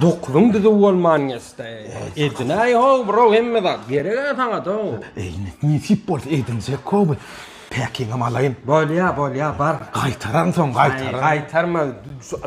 Dokulyň düzüw bolman geçdi. Edinäý how bro hemme zat gereg-ä saňa dow. Eýni nesip bolsa edinjek kowy. Päkiňem alaýyn. Bolýa bolýa bar. Gaýtararyn soň gaýtararyn. Gaýtarma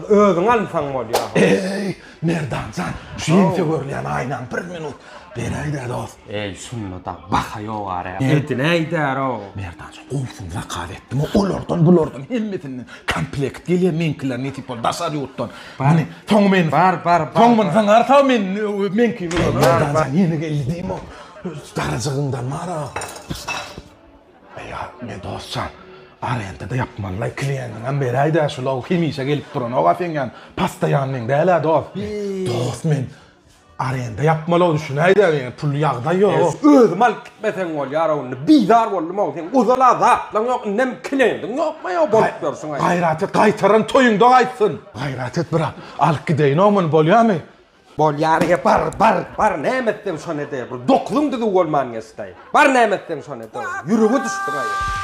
özüň alsaň bolýa. Eý Merdanjan şu ýeňse görülýän aýnaň bir minut beräýdä dost. Eý şunda da baha ýogar-ä. Edinäýdä how. Merdan. Gowsyn zakaz etdim olardan bulardan hemmesinden komplekt gelýär meňkiler nesip boldy daşary ýurtdan meni soň meni bar bar soň meni zyňarsa men meňki bilen ýene geldi diýme darajygyndan mara ýa men dostjan arenda da ýapmalylaý klieniňem beräýdä şulow hemişe gelip duranok a seň ýan pastaýannyň dälä dost dost men Arenda ýapmalygy düşünäýdä ýene pul ýagdaý ýok. Özüm alyp gitmeseň bolýara ony bizar boldum-ow seň ozala zatlaň ýok indem kilendiň ýokma ýa bolup ýörsiň aý. Gaýrat et gaýtaran toýuňda gaýtsyn. Gaýrat et brat alyp gideýin-ow muny bolýamy. Bolýar ýa bar bar bar näme etseň şony ede bir dokuzyň düzüw bolman geçdi aý bar näme etseň şony ede ýürege düşdüň aý.